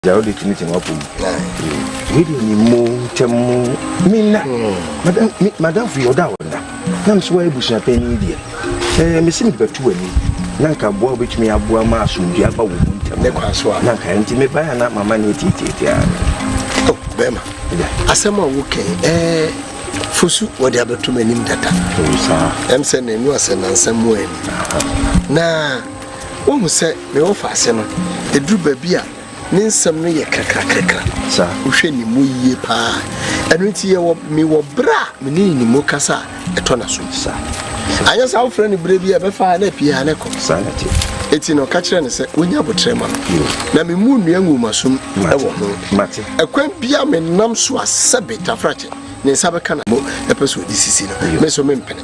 Dza wode to ne tsɛn w'apɔ mu. Wei deɛ ne mu ntɛm mu menna madamfo yɛ ɔdɔ a ɔnna na me so wayɛ abusua panyin deɛ ɛɛ mesi mede bɛto w'ani na nka boa wobɛtumi aboa ma asomdwe aba wɔ mu ntɛm ne kwan so a na nka nti mebaeɛ na mama ne ɛtietieti a oh, bɛrima asɛm a wokɛn ɛɛ fosu wɔde abɛto m'anim dada ɛm sɛ na ɛnu asɛ nansɛm mu ani na Woahu sɛ me wɔfaase no, ɛduru baabi a, ne nsɛm no yɛ krakrakrakra. Wohwɛ ne mu yie paa. Ɛno nti yɛwɔ me wɔ berɛ a me ne ne mu kasa a, ɛtɔ n'asom. Anyɛ saa wofrɛ no berɛ bi a, ɛbɛfa ara na apue ara na ɛkɔ. Eti no, ka kyerɛ no sɛ wɔnya aboterɛ ma me, na me mu nnua nguomasom wɔ ho. Ɛkwan biara menam so a, sɛbe tafrakyɛ, ne nsa bɛka na mmom ɛpɛ sɛ ɔde sisi no, me nso mempene.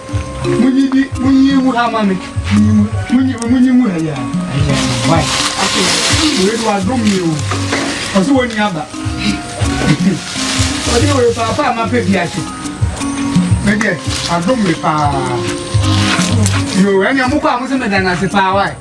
Munyi bi, munyi mu ha ma me. Munyi mu, munyi mu, munyi mu ha ya. Ayi, why? Ake, wei do adom mi o. Ɔsɛ wɔn nyɛ aba. Ɔde wei paapa ama pɛ bi ase. Me deɛ, adom mi paa. Yo, ɛnna mo kɔ a mo sɛ meda n'ase paa, why?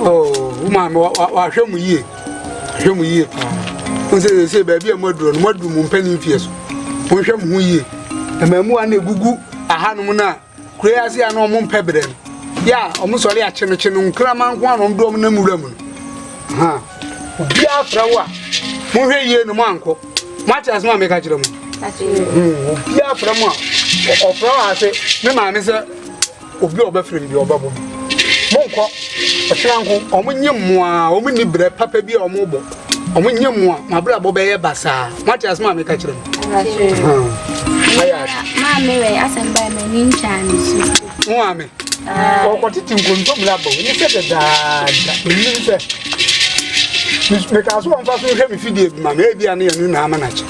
wo maame wahwɛ mu yie hwɛ mu yie paa wo sɛ sɛsɛ baabi a moaduru no moaduru mo mpani mfeɛ so monhwɛ mo ho yie mmaamuwa na ɛgugu ahanom no a kuro yi ase a na ɔmo mpɛ berɛ no yɛ a ɔmo sɔre akye no kye no nkrama nko a na ɔmo de ɔmo nam wura mu no ha obiara fra wo a monhwɛ yie no moankɔ moate asɛm a meka kyerɛ mo hmm, obiara fra mu a ɔfra wɔ ase me maame sɛ Obi a ɔbɛfrɛ me deɛ ɔbɛbɔ no. Monkɔ ɔkyena nko, wɔn nye mmoa, wɔn nni brɛ papa bi a wɔn bɔ. Wɔn nye mmoa, mo abrabɔ bɛyɛ basaa. Moate asɛm a meka kyerɛ mo? Maame wɛ asɛm baa m'ani ntwaa ne su. Mo maame? Ɔkɔtete nkontomire aba wo mu sɛ dadaada. Menim sɛ. Mekaa so wɔmfa so nhwɛ me fidie bi ma me, ebia ne yɛn no nyinaa ama no akyɛ.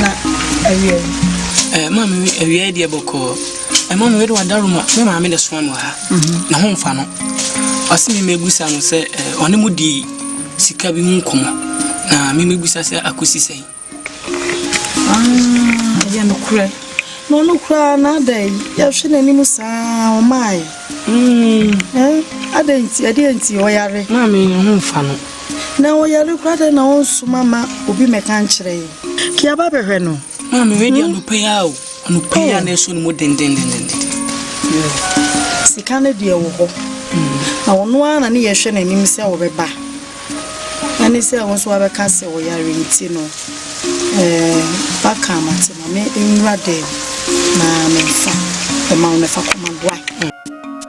na awia yi. Eh, ma me awia yi deɛ bɔkɔɔ. Eh, ma me wede wadaroma. Me maame na soma me wɔ ha. Mhm. Na ho mfa no. Ɔse me mɛbusa no sɛ eh, ɔne mu di sika bi ho nkɔmmɔ. Na me mɛbusa sɛ akɔsi sɛn. Ah, ɛyɛ nokorɛ. Na ɔno koraa na adɛn yɛhwɛ n'anim saa ɔmae. Mm. Eh, adɛn nti, ɛdeɛ nti ɔyare. Maame, ho mfa no. Na ɔyare koraa dɛn na ɔnsoma mma obi mmɛka nkyerɛ yɛn? Kia ba bɛhwɛ no. Maame wei deɛ hmm? anɔpa yi ara o. Anɔpa yi ara oh. na ɛsɔ ne mu dendendenden. Sika no deɛ wɔ hɔ. Hmm. Na ɔno ara na ne yɛhwɛ n'anim sɛ ɔbɛba. Ɛne sɛ wo nso wabɛka sɛ ɔyare nti no. Eh, baka amate ma me nwura dɛm na memfa ɛma wo no fa kɔma boa.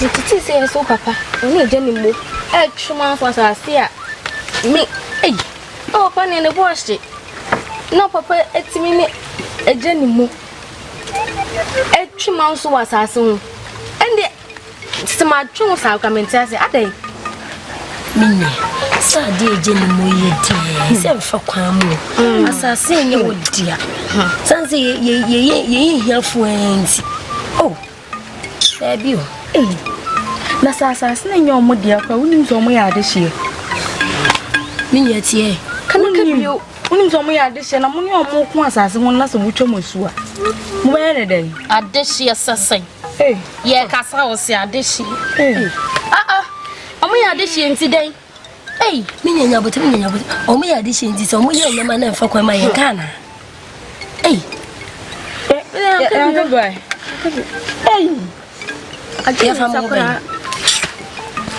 Metete sɛ yɛsɛ wo papa ɔne agya ne mo ɛtwe mu afɔ asase a me ei na papa ne ne bo ahye na papa atumi ne agya ne mo ɛtwe mu nso wɔ asase ho ɛnde sɛ matwe wo saa kora mente ase adɛn menni sɛ adeɛ agya ne mo yɛ deɛ sɛ mfa kwan mu mm. asase ɛnyɛ wɔ dea sane sɛ yɛyɛ hiafoɔ nti oh Daabi o. Ei, na sɛ asase no nyɛ wɔn dea koraa, wonim sɛ wɔyɛ adehyeɛ? Me nua tie. Ka no ka bio. Wonim sɛ wɔyɛ adehyeɛ na mo ne wɔn ko asase ho na sɛ wotwa mo asu a, mobɛyɛ ne dɛn? Adehyeɛ sɛ sɛn? Yɛkasa wo se adehyeɛ. Ah ah, wɔyɛ adehyeɛ nti dɛn? Ei, me nya nya bote, me nya nya bote. Omo ya de shinti so, omo ya nya ma na nfa kwa ma ye kana. Ei. Eh, eh, eh, eh, boy. Ei. Ati ya fa mo boy.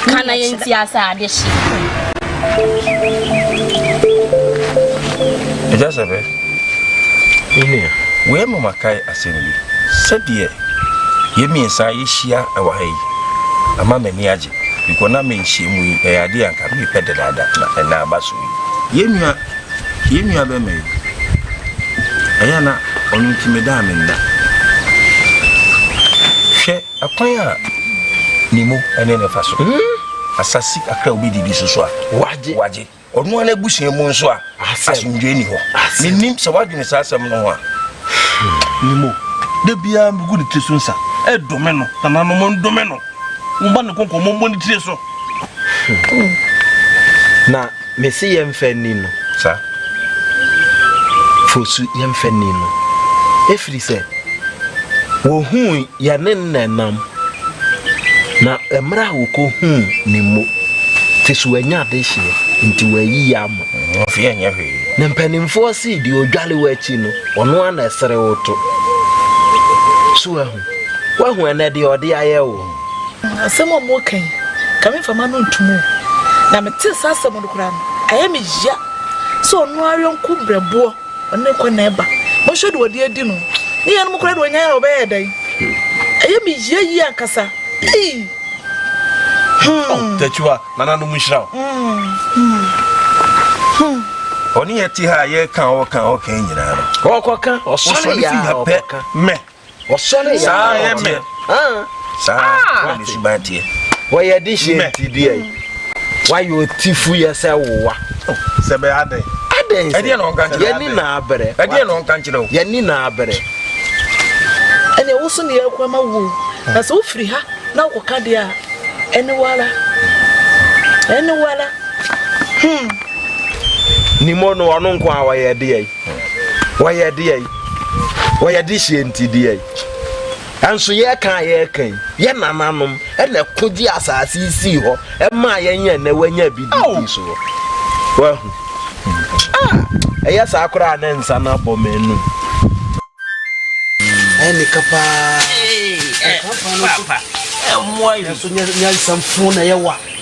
Kana yenti asa de shi. Eja sabe. Ini, we mo makai asembi. Sɛ deɛ yɛmmiɛnsa yɛhyia wɔ ha yi ama m'ani agye Because na me nhyiamu yi ɛyɛ adeɛ a nka mepɛ dedaada na ɛnɛ aba so yi. Yɛn nua yɛn nua bɛma yi ɛyɛ na ɔno nti me da a me nna. Hwɛ ɛkwan a ne mu ɛne ne fa so. Hmm? Asase kakra a wobɛdidi so so a wagye. Ɔno ara n'abusua mu nso a, asomdwoe ni hɔ. Menim sɛ woadwene saa asɛm no ho a. Menim o. Da biara megu ne tiri so nsa. Ɛdome no, nananom ndome no. Momma ne konko, mommɔ ne tiri so. Na mese yɛmfa nni no. Saa. Fosu, yɛmfa nni no. Ɛfiri sɛ, wɔhuu Yɛne no na ɛnam, na mmerɛ a wɔkɔhuu no mmo, te so wanya adehyeɛ, nti wɔayi yɛ ama. Ɔfeɛ ɛnyɛ hwee. Na mpanimfoɔ se deɛ ɔdwale wo akyi no, ɔno ara na ɛsere wo to. So ahu? Woahu ɛnnɛ deɛ ɔde ayɛ wo? Asɛm a wɔka yi, nka memfa m'ano ntom o, na metee saa asɛm no koraa no, ayɛ me ya sɛ ɔno ara yɔnko berɛboɔ Ɔne kɔ na ɛba. Monhwɛ deɛ ɔde adi no. Ne yɛn nom koraa deɛ ɔnyae a ɔbɛyɛ dɛn? Ɛyɛ me yie yie ankasa. Ei! Hmm. Oh, Tachiwa, nananom nhyira wo. Hmm. Hmm. Ɔne yɛte ha a yɛka ɔka ɔka nyinaa no. Ɔkɔka, ɔsɔre yɛ a ɔkɔka. Mɛ. Wɔsɔre yɛ adeɛ. Saa na me suban teɛ. Wɔyɛ de hyɛ nti deɛ yi. Wayɛ ɔtifu yɛ sɛ wowa. Sɛ bɛ adɛn. Adɛn sɛ. Ɛdeɛ na ɔnka nkyerɛ. Yɛni na abrɛ. Ɛdeɛ na ɔnka nkyerɛ o. Yɛni na abrɛ. Ɛnna woso na yɛkɔ ama wo. Na sɛ wofiri ha na wokɔka deɛ a ɛne wala. Ɛne wala. Hmm. Nimo no ɔno nko a wɔyɛ deɛ yi. Wɔyɛ deɛ yi, wɔyɛ de hyɛ nti deɛ yi. Ɛnso yɛka a yɛka yi, yɛ nananom ɛna ɛko gye asaase yi sii hɔ, ɛma yɛnyɛ ɛnɛ wanya bi di ti so hɔ. Wahu. Ah, ɛyɛ saa koraa ne nsa no abɔ me anum. Ɛne ka paa. Ɛka paa no so. Ɛmmoa yi. Ɛso nyansam fo na yɛwa.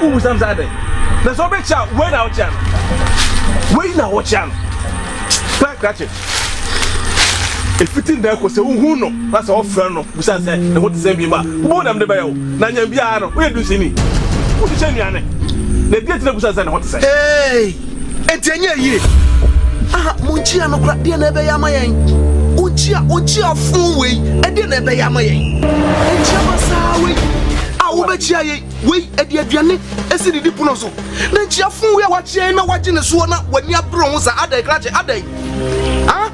Wobisa me saa dɛn? Na sɛ wobekyia a, wei na wokyia no. Wei na wokyia no. Pɛ krakye. Efiti nnɛ kɔ sɛ wohu no na sɛ wɔfrɛ no bisa sɛ ne ho te sɛn bio a, wobɛhu nea mede bɛyɛ wo. Na nyɛ biara no, woyɛ dunsini. Wode hyɛ nnuane. Na ɛdeɛn nti na wobisa no sɛ ne ho te sɛn? Enti ɛnyɛɛ yie. Aha, monkyia no koraa, deɛ na ɛbɛyɛ ama yɛn? Ɔnkyia, ɔnkyia afoo wei, ɛdeɛ na ɛbɛyɛ ama yɛn? Ɛnkyia ma saa wei a wobɛkyia yɛn, wei ɛde aduane ɛsi didi pono so, na nkyia foo wei a wakyia yɛn na wagye ne soɔ na w'ani abere ho saa, adɛn krakye, adɛn? Ah?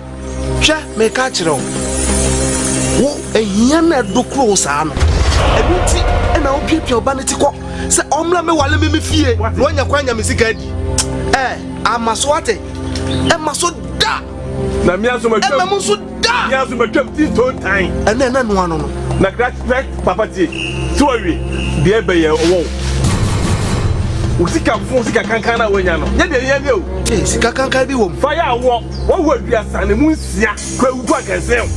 Hwɛ, mereka akyerɛ wo, wo ahia na ɛdokoro wo saa no. Ɛno nti na wopiapia ɔba no ti kɔ sɛ ɔmmra mɛwale me me fie na wanya kwan nya me sika adi. Ɛ, ama so ate? Ɛma so da! Na me nso matwam. Ɛma mu nso da! Me nso matwam ti ntontan. Ɛnna ɛna noa no no. Na kra papa tie, sɛ wawie deɛ ɛbɛyɛ ɔwɔ wo. Wo sika fo sika kankan na wanya no, nyɛ deɛ ɛhia ni o. Ee, sika kankan bi wɔ mu. Fa yɛ awɔ. Wawu aduasa ne mu nsia Kwawu Boa Gɛnsɛn.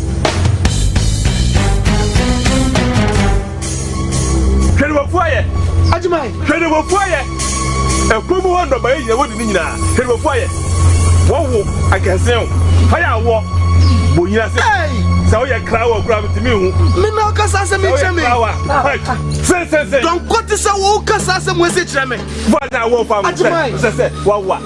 Hwɛ ne wafu ayɛ. Agyeman. Hwɛ ne wafu ayɛ. Ɛkwan mu hɔ nnɔbaeɛ nyina wadi ne nyinaa Hwɛ ne wafu ayɛ. Wawo agɛnsɛn Hɔ yɛ awɔ Bɔ nyina se Sɛ woyɛ krawa koraa mentumi nhu Me na woka saa asɛm yi kyerɛ me Sɛ woyɛ krawa Hwɛ sensensɛn. Dɔnkɔ te sɛ wo woka saa asɛm wei se kyerɛ me Bɔ anya awɔ fam Agyeman. Sɛ sɛ wawo a.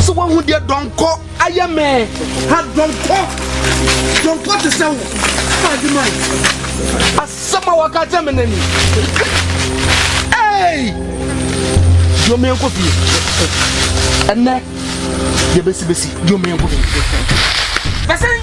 So wahu deɛ dɔnkɔ ayɛ me ha dɔnkɔ dɔnkɔ te sɛ wo ade ma asɛm a waka kyɛ me nani ei yomeɛnkɔ fie ɛnɛ yɛbɛsibɛsi yomeɛnkɔ fie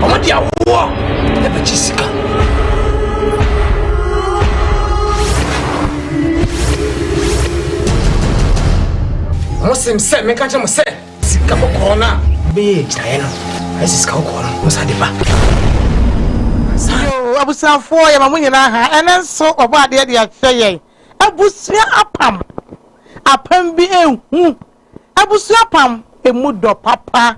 Wɔn de awoɔ na ɛbɛgye sika. Wɔsim sɛ meka kyerɛ mo sɛ sika kɔkɔɔ no a bɛyɛ agyinaeɛ no ɛsɛ sika kɔkɔɔ no mo sa de ba. Abusuafoɔ yɛma mo nyinaa ha ɛnɛ nso wɔbɔ adeɛ de akyerɛ yɛn abusua apam apam bi ehu. Abusua pam ɛmu dɔ papa.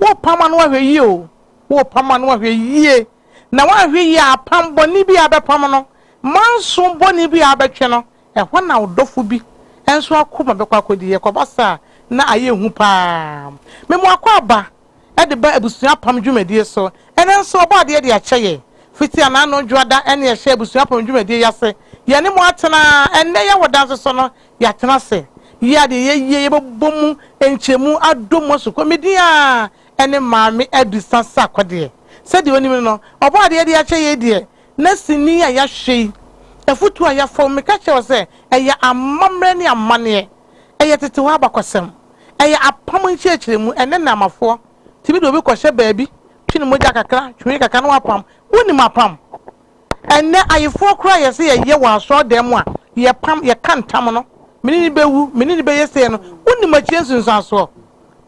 Wo pam ano ahwɛ yie o, wo pam ano ahwɛ yie, na woanhwɛ yie a apam bɔne bi a abɛpam no, manso bɔne bi a abɛtwe no, ɛhɔ na wo dɔfo bi nso akoma bɛkɔ akɔdi. Ɛkɔba saa a, na ayɛ hu paa. Me mo akwaaba. de ba abusua apam dwumadie so. Ɛnnɛ nso ɔbɔ adeɛ de akyɛ yɛn. Fiti anaa ano dwoada ne ɛhyɛ abusua apam dwumadie yi ase. Yɛne mo atena. Ɛnnɛ yɛ wɔ danse so no, yɛatena ase. Yɛ adeɛ yɛ yie, yɛbɛbɔ mu nkyɛmu adɔ mu asukɔ. Me din ara ne Maame Adisa Sarkodie. Sɛdeɛ wonim no no, ɔbɔ adeɛ de akyɛ yei deɛ, na sini a yɛahwɛ yi, afutuo a yɛafa mu, meka kyerɛ wo sɛ ɛyɛ amammerɛ ne amanneɛ. Ɛyɛ tete hɔ abakɔsɛm. Ɛyɛ apam nkyerɛkyerɛmu. Ɛnnɛ Nnaamafoɔ tumi de obi kɔhyɛ baabi, twe ne mogya kakra, twene kakra na wapam. Wonim apam? Ɛnnɛ Ayefoɔ koraa a yɛse yɛyɛ wɔ asɔredan mu a, yɛpam, yɛka ntam no, me ne no bɛwu, me ne no bɛyɛ sei no, wonim akyire nsunsuansoɔ?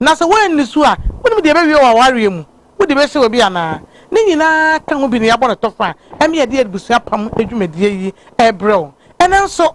Na sɛ woanni so a, wonim deɛ ɛbɛwie wɔ w'awareɛ mu? Wode bɛhyɛ obi anaa? Ne nyinaa ka ho bi na yɛabɔ no tɔfa a, ɛma yɛde abusua apam dwumadie yi rebrɛ wo. Ɛnnɛ nso.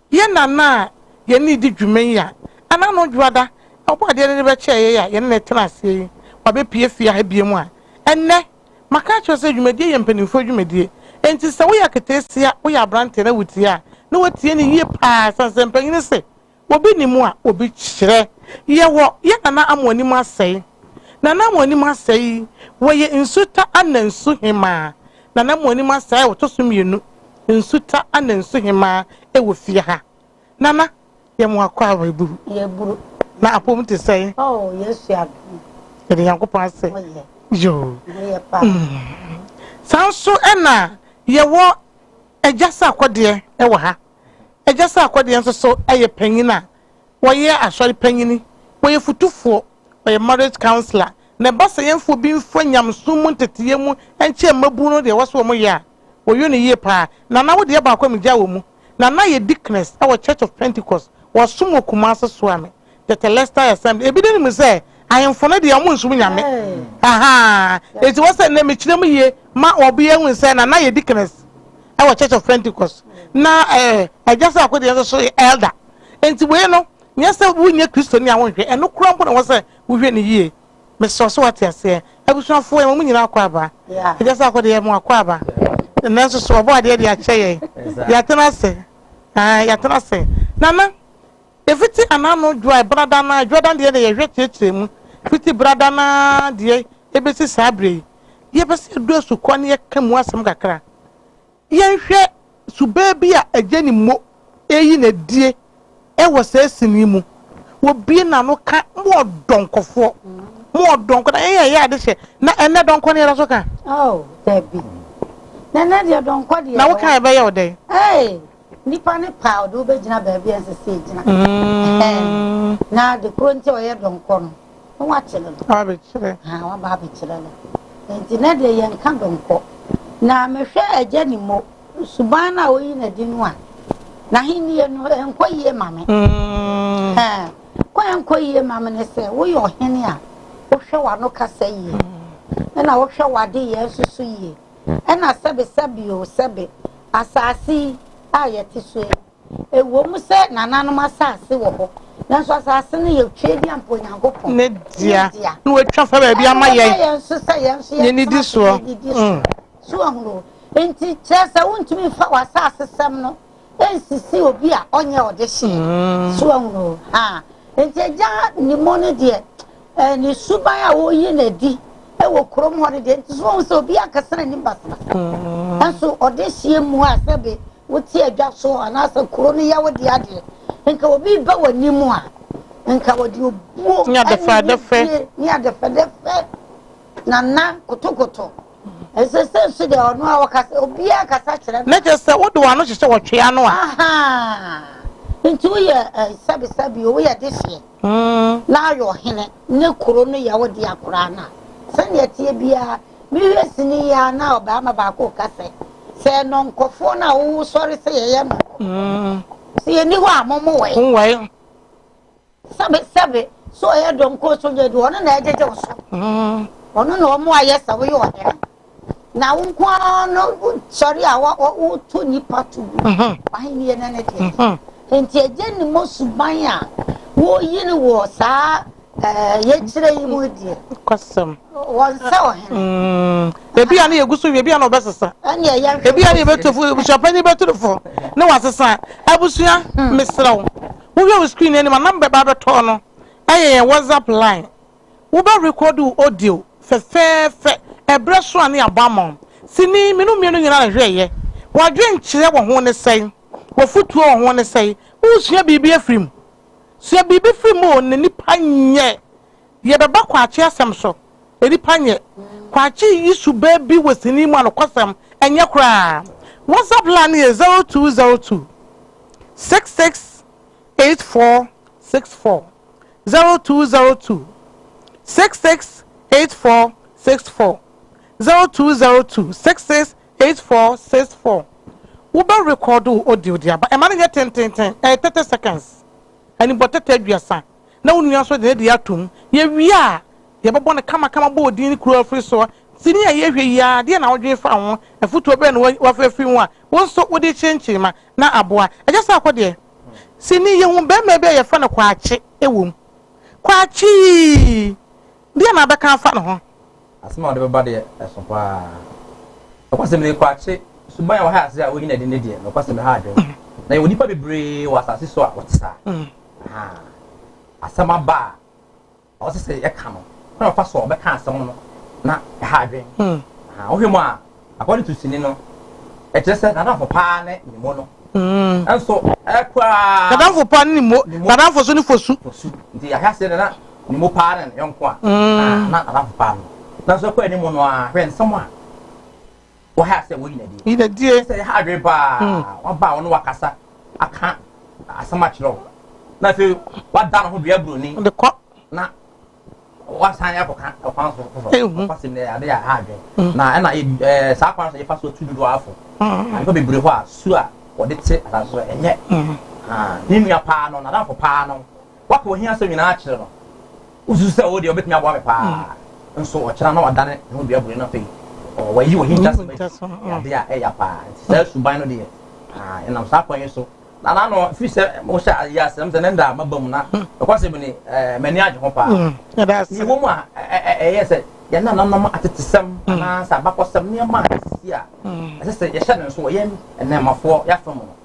Yɛn nana a yɛne no di dwuma yi a ɛna no Dwoada Ɔbɔadeɛ no de bɛkyɛɛ yɛn a yɛne no tena aseɛ yi, wabɛpue fie ha biom a ɛnnɛ. Maka akyerɛ wo sɛ dwumadie yɛ mpanimfoɔ dwumadie. Enti sɛ woyɛ aketeesia, woyɛ aberanteɛ na wotie a, na woatie no yie pa ara ɛsiane sɛ mpanyini se obi nim a obi kyerɛ. Yɛwɔ yɛn nana Amoanim Asɛe. Nana Amoanim Asɛe yi, wɔyɛ Nsuta Anna Nsuhemmaa na na mo anim asɛe ɔtɔ so mmienu, nsu ta na nsu hemaa wɔ fie ha. Na na yɛ mo akɔ a w'aburu. Yɛburu. Na apom te sɛn? Oh, Yesu adom. Yɛde Nyankopɔn ase. Oh, yeah. Yo. Oh, yeah, pa. Mm. Saa nso na yɛwɔ Agya sɛ akɔdeɛ wɔ ha. Agya sɛ akɔdeɛ nso so yɛ panyin a wɔyɛ asɔre panyini, wɔyɛ futufoɔ. Ɔyɛ marriage counsellor na ɛba sɛ yɛnfoɔ bi nfa nyamesom mu nteteeɛ mu nkyɛɛ mmabunu no deɛ wɔse wɔyɛ a wɔyɔ no yie paa. Nana wo deɛ baako a megyaa wɔ mu, Nana yɛ deaconess wɔ Church of Pentecost, wɔsom wɔ Kumasi Suame Tetelestai Assembly. Ebi denim sɛ ahemfo no deɛ wɔn nsom nyame ahaa enti wɔ sɛ nnɛ mekyerɛ mu yie ma ɔbea hu sɛ Nana yɛ deaconess wɔ Church of Pentecost na eh Agya Saako deɛ nso so yɛ elder enti wei no Nyɛ sɛ wonyɛ Kristoni a wonhwɛ, ɛno koraa mpo na ɛwɔ sɛ wohwɛ no yie. Mesrɛ wo sɛ woate aseɛ. Abusuafoɔ, yɛma mo nyinaa akwaaba. Agya Sarko deɛ, yɛma wo akwaaba. Nanso so Ɔbɔadeɛ de akyɛ yɛn? Yɛatena ase. Aane, yɛatena ase. Nana, ɛfiti anano dwoa a, brada no ara, dwoadan deɛ na yɛhwɛ kyerɛkyerɛ mu. Fiti brada no ara deɛ bɛsi saa berɛ yi, yɛpɛ sɛ yɛdɔ asukɔ na yɛka mu asɛm kakra. Yɛnhwɛ subaa bi a agya nim mo reyi no adie wɔ saa sini yi mu. Wɔbue n'ano ka mo ɔdɔnkɔfoɔ, mo ɔdɔnkɔ. Na yɛn a yɛyɛ ade hyɛ, na ɛnnɛ dɔnkɔ no yɛda so ka? Oh, dabi. Na ɛnnɛ deɛ dɔnkɔ deɛ. Na wo ka ɛbɛyɛ wo dɛn? Hey, nipa ne paa ɔde wobɛgyina baabi a ɛnsɛ sɛ ɛgyina. Mm. Na de koro nti a ɔyɛ dɔnkɔ no. na wakyere no. Wabekyere. Haa, waba abekyere no. Enti na deɛ yɛnka donkɔ. Na mehwɛ agya ne mo, suban no a ɔyi no adi no a, n'ahennie no, ɛnkɔ yie ma me. Haa, kwan a ɛnkɔ yie ma me ne sɛ, woyɛ ɔhene a wohwɛ w'ano kasa yie, ɛna wohwɛ w'adeyɛ nso so yie, ɛna sɛbesɛbe o, sɛbe, asaase yi a yɛte so yi, Ɛwom sɛ nananom asase wɔ hɔ, nanso asase no yɛ tweaduam pa Onyankopɔn ne dea, na watwa fa baabi ama yɛn. Ɛma yɛn nso sɛ yɛn nso yɛntena ase na yɛdidi so. Mm. So ahunu? Enti kyerɛ sɛ wontumi mfa w'asasesɛm no nsisi obi a ɔnyɛ ɔdehyeɛ. Mm. So ahunu? Ha. Enti agya nimmo no deɛ Eh, ne suban a woyi no adi wɔ kurom hɔ no deɛ nti so wɔn sɛ obi ankasa n'anim basabasa mm. nanso ɔde hyia mu a sɛbe wote adwa so anaasɛ kuro no yɛ wo de adeɛ nka obi ba w'anim a nka wɔde obuo ne adefɛdefɛ ne adefɛdefɛ nana kotokoto ɛsɛ sɛ nso deɛ ɔno a wɔka sɛ obiara kasa kyerɛ no na kyerɛ sɛ wode w'ano hyehyɛ wɔtwea no a nti woyɛ sɛbesɛbe o woyɛ de hyeɛ Na ayɛ ɔhene, ne kuro no yɛ wo dea koraa no a, sɛdeɛ ɛteɛ biara, me werɛ sini yi ara na ɔbarima baako reka sɛ, Sɛ nnɔnkɔfoɔ no a wosɔre sɛ yɛyɛ nnɔnkɔfoɔ, sɛ yɛnni hɔ a, mommoae. Sɛbe, sɛbe, sɛ ɔyɛ dɔnkɔɔ sogya deɛ, ɔno na ɛgyegye wo so, ɔno na ɔmmoa yɛ sɛ woyɛ ɔhene. Na wo nko ara no sɔre a woto nnipa to gu w'ahenni no ne deɛ. Enti ɛgye ne mo suban a woyi no wɔ saa yɛkyerɛ yi mu deɛ. Kɔsɛm. Wɔn sɛ ɔhene. Mm. Ebi a ne yɛgu so wie, ebi a na ɔbɛsesa. Ɛnneɛ yɛn. Ebi a ne yɛbɛtu fo, abusuapanyin bɛtu fo, ne wasesa. Abusua, hmm. mesrɛ wo. Wohwɛ wo screen anim a namba bɛba abɛtɔ no. Ɛyɛ yɛn WhatsApp line. Wobɛ record wo audio fɛfɛɛfɛ ɛbrɛ so a ne yabɔ ama wo. Sini, me no mmienu nyinaa na hwɛ yɛ. Wadwen kyerɛ wɔ ho ne sɛn? Wafutuo wɔ ho ne sɛn? Wo sua biribi afiri mu? Sua biribi firi mu o ne nipa nyɛ. Yɛ bɛ ba Kwakye asɛm so, ne nipa nyɛ. Kwakye yi su bɛ bi wɔ sini mu a nokɔsɛm ɛnyɛ koraa. Whatsapp line no yɛ zero two zero two six six eight four six four zero two zero two six six eight four six four zero two zero two six six eight four six four wo bɛ record wo audio de aba ɛma no nyɛ tententen ɛyɛ thirty seconds ɛni bɔ tɛtɛ aduasa na wo nua nso de ne de ato mu yɛ wie a yɛ bɛ bɔ no kama kama bɔ odin ne kuro afiri soɔ ti ni a yɛ hwɛ yi a deɛ na ɔdwen fa ho afutuo bɛn na wafɛ firi ho a wo nso wo de kyenkyen ma na aboa ɛgya sɛ akɔ deɛ. Sini yɛhu barima bi a yɛfrɛ no Kwakye wom. Kwakye yii! Deɛn na wobɛka afa ne ho? Asɛm a wode bɛba deɛ, ɛso pa ara. Nokwasɛm nie, Kwakye suban a wahae ase a wanyini adi no deɛ, nokwasɛm ɛha adwene. Na yɛwɔ nnipa bebree wɔ asase so a wɔte saa. Ahaa! Asɛm aba a Ɔsɛ sɛ yɛka no kwan a ɔfa so a ɔbɛka asɛm no na ɛha adwene. Wohwɛ mu a, according to sini no, ɛkyerɛ sɛ n'adamfo paa ne ne mo no. Nanso koraa. N'adamfo paa ne ne mo, n'adamfo nso ne fosu. Fosu. Nti ahwɛ aseɛ no na ne mo paa ne ne yɔnko a, na n'adamfo paa no. Nanso ɛkɔ anim no a, hwɛ nsɛm a Wɔ ha sɛ wɔyi nadie. Yi nadie. Sɛ yɛ ha adwene paa. Hmm. Waba a ɔne wakasa aka asɛm akyerɛ wo. Na afei wada ne ho dua buroni. De kɔ. Na wasan akɔka ɔkwan so foforɔ. Ehu. Ɔkɔ se nnɛ ade yɛ ha adwene. Hmm. Na ɛna yɛ ɛɛ saa kwan so yɛfa so tu dodoɔ afo. Hmm. Ade bebree hɔ a su a wɔde te asase so ɛnyɛ. Ne nua paa no, n'adamfo paa no. Woaka ohia asɛm nyinaa akyerɛ no. Wususu sɛ wo deɛ obetumi aboa me paa? Nso ɔkyena na ɔdane ne ho dua bue no afei. Ɔɔ, wayi ohintasɛm adi yɛ ade a ɛya paa. Enti saa suban no deɛ, ah, yɛnam saa kwan yi so. Na na ano, ɛfiri sɛ mohyɛ ayi asɛm sɛ nnɛ da maba mu, na nokwaresɛm ni, eh, m'ani agye ho paa. Yɛwɔ mu a, ɛyɛ sɛ yɛn nananom atetesɛm anaasɛ abakɔsɛm nneɛma a asisi a ɛsɛ sɛ yɛhyɛ no nsow wɔ yɛn nnɛɛmafoɔ yɛafa mu no,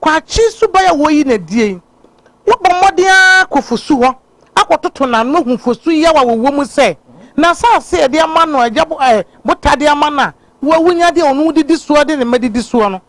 Kwakye suban a woyi no adie yi, wobɔ mmɔden ara kɔ fosu hɔ akɔtoto n'ano hu fosu yaw a wɔwɔ mu sɛ, n'asase a yɛde ama no a agya botaa de ama no a wawunya de a ɔno didi soɔ de ne mma didi soɔ no,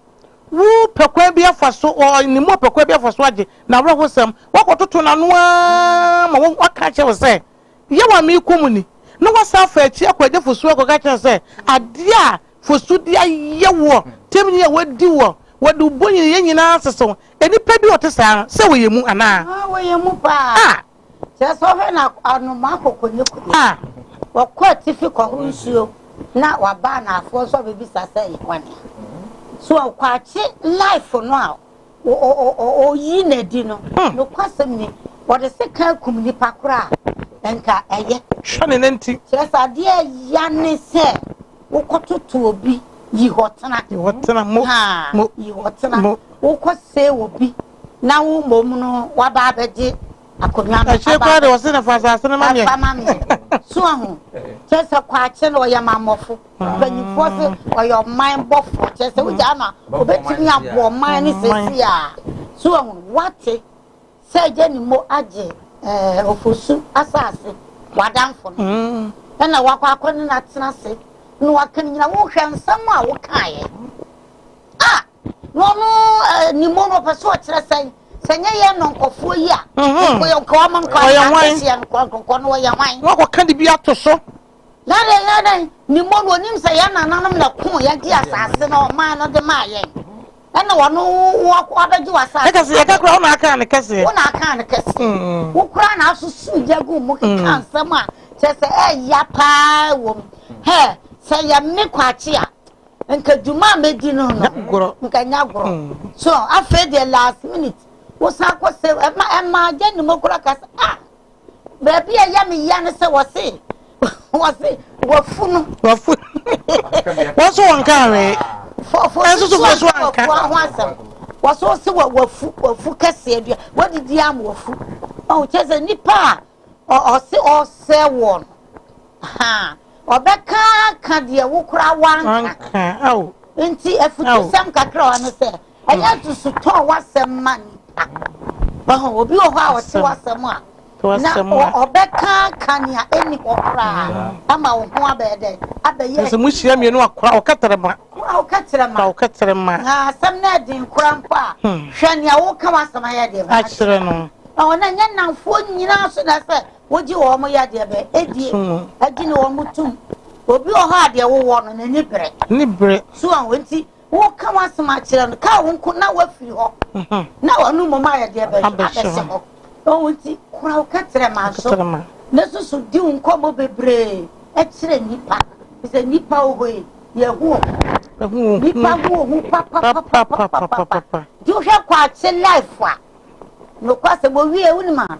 wopɛ kwan bi afa so, ne mu ɔpɛ kwan bi afa so agye n'awerɛhosɛm. Wakɔtoto n'ano ara ma waka akyerɛ wo sɛ, yaw a merekɔ mu ni, na wasan afa akyi akɔgye fosu akɔka akyerɛ no sɛ, adeɛ a fosu de ayɛ wo ɔtemni a wadi wo, wɔde wo bɔn yɛ nyinaa asese wo. Nnipa bi a wɔte saa no, sɛ wɔyɛ mu anaa? Haa, wɔyɛ mu paa. Ah! Kyerɛ sɛ, wohwɛ no a, anomaa kokonoko bi, Ah! ɔkɔ atifi kɔhoro nsuo na waba anaafoɔ so abɛbisa sɛ, Yɛn kwan ni? So, ɔkwakye life no a Oyii no adi no, nokwasɛm ni, wɔde sekan kum nnipa koro a, anka ɛyɛ. Hwɛ ne nanti. Kyerɛ sɛ adeɛ a ɛya ne sɛ wokɔtoto obi, yi hɔ tena. Yi hɔ tena, mo, mo. Yi hɔ tena. Mo. Wokɔsɛe obi na wo mmom no waba abɛgye akonnwa no. Akyire koraa de, ɔse no fa asase no ma meɛ. Fa ma meɛ. So ahu? Kyerɛ sɛ kwaakye no ɔyɛ mammɔfo. Mpanyinfoɔ se ɔyɛ ɔman bɔfoɔ kyerɛ sɛ wogyaa no a obetumi aboɔ ɔman ne sɛsi a so ahu wate sɛ agya ne mo agye ɛɛ ofosu asaase wadanfo no ɛna wakɔ akɔ ne na tena se na waka ne nyina wohwɛ nsɛm a wokaeɛ a na ɔno ɛɛ ne mo no ɔpɛ so ɔkyerɛ sɛ sɛ nyɛ yɛ nɔnkɔfoɔ yi a nkɔyɛ nkɔwa ma nkɔwa na ahyɛ nkɔnkɔnkɔ no ɔyɛ hwan. Wakɔ ka de bi ato so. Na deɛ yɛ dɛn ne mmɔ no onim sɛ yɛn nananom na koo yɛn de asase na ɔman no de maa yɛn ɛna ɔno wabɛgye w'asase. Ɛka sɛ yɛka koraa wo na akaa no kɛseɛ. Wo na akaa no kɛseɛ. Wo koraa na asoso gya gu mu keka nsɛm a kyerɛ sɛ ɛya paa wɔ mu. Hɛ sɛ yɛ me kwakye a nka dwuma a mɛdi no no nka nya gorɔ. So afei deɛ last minute wo san kɔ sɛ ɛma ɛma gya nim koraa ka sɛ ah. Baabi a ɛyɛ me ya ne sɛ wɔse wɔse wafu no. Wafu wɔn so wɔn kaa wee. Fɔfɔ ɛnso so fɔ so anka. Wɔfɔ ho asɛm. Wɔso se wɔ wafu wafu kɛseɛ dua wɔdidi am wafu. Ɔn kyɛ sɛ nipa a ɔse ɔsɛ wɔn. Ha ɔbɛka ka deɛ wo koraa wanka. Wanka awo. Nti afutusɛm kakra wa ne sɛ. Ɛnyɛ hmm. dusutɔ w'asɛm ma nipa. Wahu obi wɔ hɔ a ɔte w'asɛm a na ɔbɛka ka nea ɛni hɔ koraa hmm. ama wo ho abɛyɛ dɛ abɛyɛ. Sɛ mo hyia mmienu akora ɔkɛtɛrɛ ma. Ɔkɛtɛrɛ ma. Ɔkɛtɛrɛ ma. Na asɛm no ɛden kora mpo a hmm. hwɛ nea woka w'asɛm ayɛ deɛ. Akyerɛ no. Na wɔn nyɛ nnamfoɔ nyinaa so na sɛ wogye wɔn yɛ adeɛ bɛ ɛdie ɛgye ne wɔn tum obi wɔ hɔ a deɛ wowɔ no n'ani brɛ. Ne brɛ. So a wɔn ti. Woka w'asɛm akyerɛ no, ka wo nko na woafiri hɔ, na ɔno mmom ayɛ deɛ bɛhwɛ abɛhyɛ hɔ. Ɔhu nti, kora wo kɛtrɛma so, na susu di wo nkɔmmɔ bebree kyerɛ nnipa. Sɛ nnipa wɔ hɔ yi, yɛhu wɔn. Nnipa hu wɔn ho papapapapapa. Nti wohwɛ kwaakye life a, nokwasɛm owie wonim a,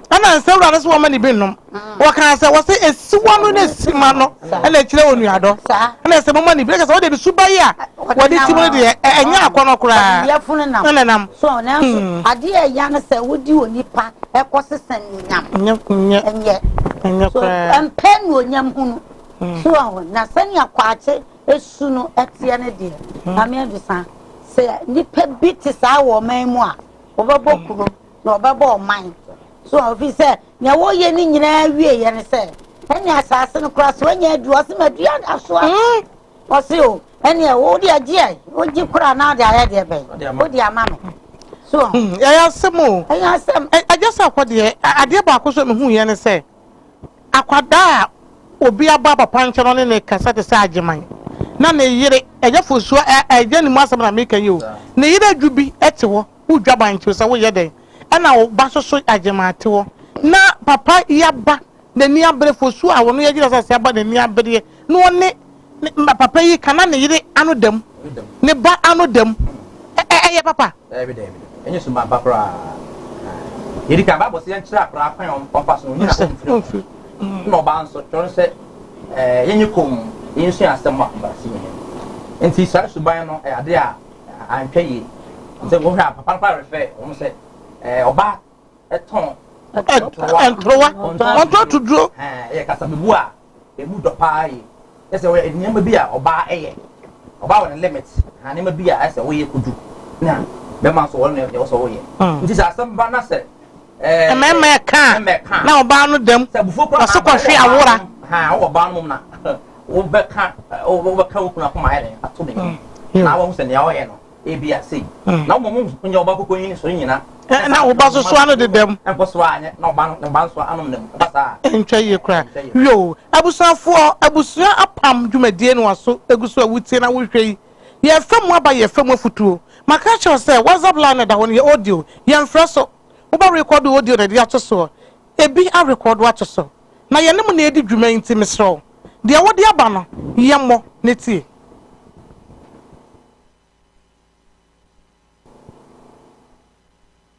Ɛna nsɛwura no so wɔma ne bi nom. Wɔkaa sɛ wɔsɛ asiwa no ne sima no ɛna ɛkyerɛ onuadɔ. Ɛna ɛsɛ moma ne bi. Ɛkyɛ sɛ wɔde ne suba yi a wɔde ti mu no deɛ ɛnyɛ akɔnɔ koraa. Na ne nam. So nanso hmm. adeɛ a ɛya no sɛ wodi onipa ɛkɔ sesa nuonyam. Nyɛ. Nyɛ. Nyɛ. Nyɛ koraa. So mpɛ nuonyam hunu. Hmm. So ahu na sɛnea kwakye esu no ɛteɛ ne deɛ. Hmm. Maame adusa sɛ nipa bi te saa wɔ ɔman mu a wɔbɛbɔ kuro. na ɔbɛbɔ ɔman. So wɔn fi sɛ nea wɔyɛ ne nyinaa wie yɛ ne sɛ ɛne asaase no koraa so anya adu ɔse ma dua asoa ɔse o ɛne ɛwo de agyeɛ wogye koraa na ɔde ayɛ deɛ bɛn wode ama no so ɛyɛ asɛm o ɛyɛ asɛm agya sɛ akɔ deɛ adeɛ baako so mehu yɛ ne sɛ akwadaa a obi aba papa nkyɛn ɔne ne kasa te sɛ agyeman na ne yere agya fosuo agya ne mu asɛm na meka yi o ne yere adwu bi te hɔ Wo dwaban nti sɛ wo yɛ dɛn ɛna wo ba soso agyemaa te hɔ na papa yi aba nani abere fosuo a wɔno yɛgyina sase aba nani abereɛ na ɔne ne papa yi ka na ne yere ano dam ne ba ano dam ɛ ɛyɛ papa. Daabi daabi ɛnyɛ suma ba koraa yɛdi kan baabɔ sɛ yɛnkyerɛ akora kwan ɔmfa so onyina ɔmfiri na ɔbaa nso kyerɛ no sɛ yɛnyɛ kɔn mu yɛnsua asɛm a ɔbaa si mu nti saa suban no ɛyɛ ade a Anhwɛ yie sɛ wohwɛ a papa no kora refɛ wɔn sɛ ɛɛ ɔba ɛtɔn ntorowa ntorowa ɔntɔ tuduro ɛɛ ɛyɛ kasabebu a emu dɔ paa yi ɛsɛ ɔyɛ nneɛma bi a ɔbaa ɛyɛ ɔbaa wɔ ne limit na nneɛma bi a ɛsɛ ɔyɛ kudu na bɛma nso wɔn na ɛwɔ sɛ ɔyɛ nti sɛ asɛm ba na sɛ. Mmarima ɛkaa na ɔbaa no dam ɔse kɔhwe awora. Na ɔba so soa no dedam. Ntwa yie kora. Yoo abusuafoɔ abusua apam dwumadie no aso egu so a wotie na wohwɛ yi. Yɛrefa mu aba yɛrefa mu afutuo. Maka akyerɛ wo sɛ WhatsApp line no ɛda hɔ no yɛ audio. Yɛnfrɛ so. Wobɛ record wo audio no de ato soɔ. Ebi a record ato so. Na yɛne mo na yɛredi dwuma yi nti mesrɛ wo deɛ wode aba no yɛ mmɔ na tie.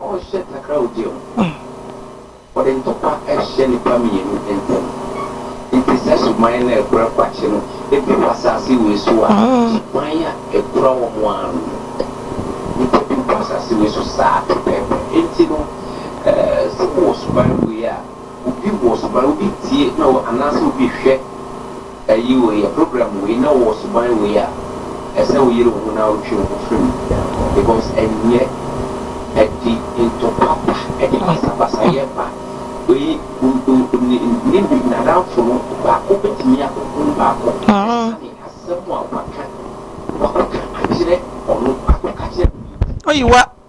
Ɔhyɛ takrawodeɛ mu. Ɔde ntɔkwa hyɛ nnipa mmienu ntam. Enti sɛ suban na ɛkura kwakye no bi wɔ asase wei so a, suban a ɛkura wɔn ara no mu nnipa bi wɔ asase wei so saa pɛpɛɛpɛ. Enti no, sɛ wowɔ suban wei a, obi wɔ suban, obi tie na anaasɛ obi hwɛ Ayi wo yɛ program wei na wowɔ suban wei a ɛsɛ wo yere wo ho na wo twe wo ho firi mu because ɛnyɛ ɛde ntɔkwa ba ɛde basabasayɛ ba wei ne nadamfo no baako bɛtumi a ohunu baako ɛsane asɛm a waka wakɔka akyerɛ ɔno wakɔka akyerɛ obi nti.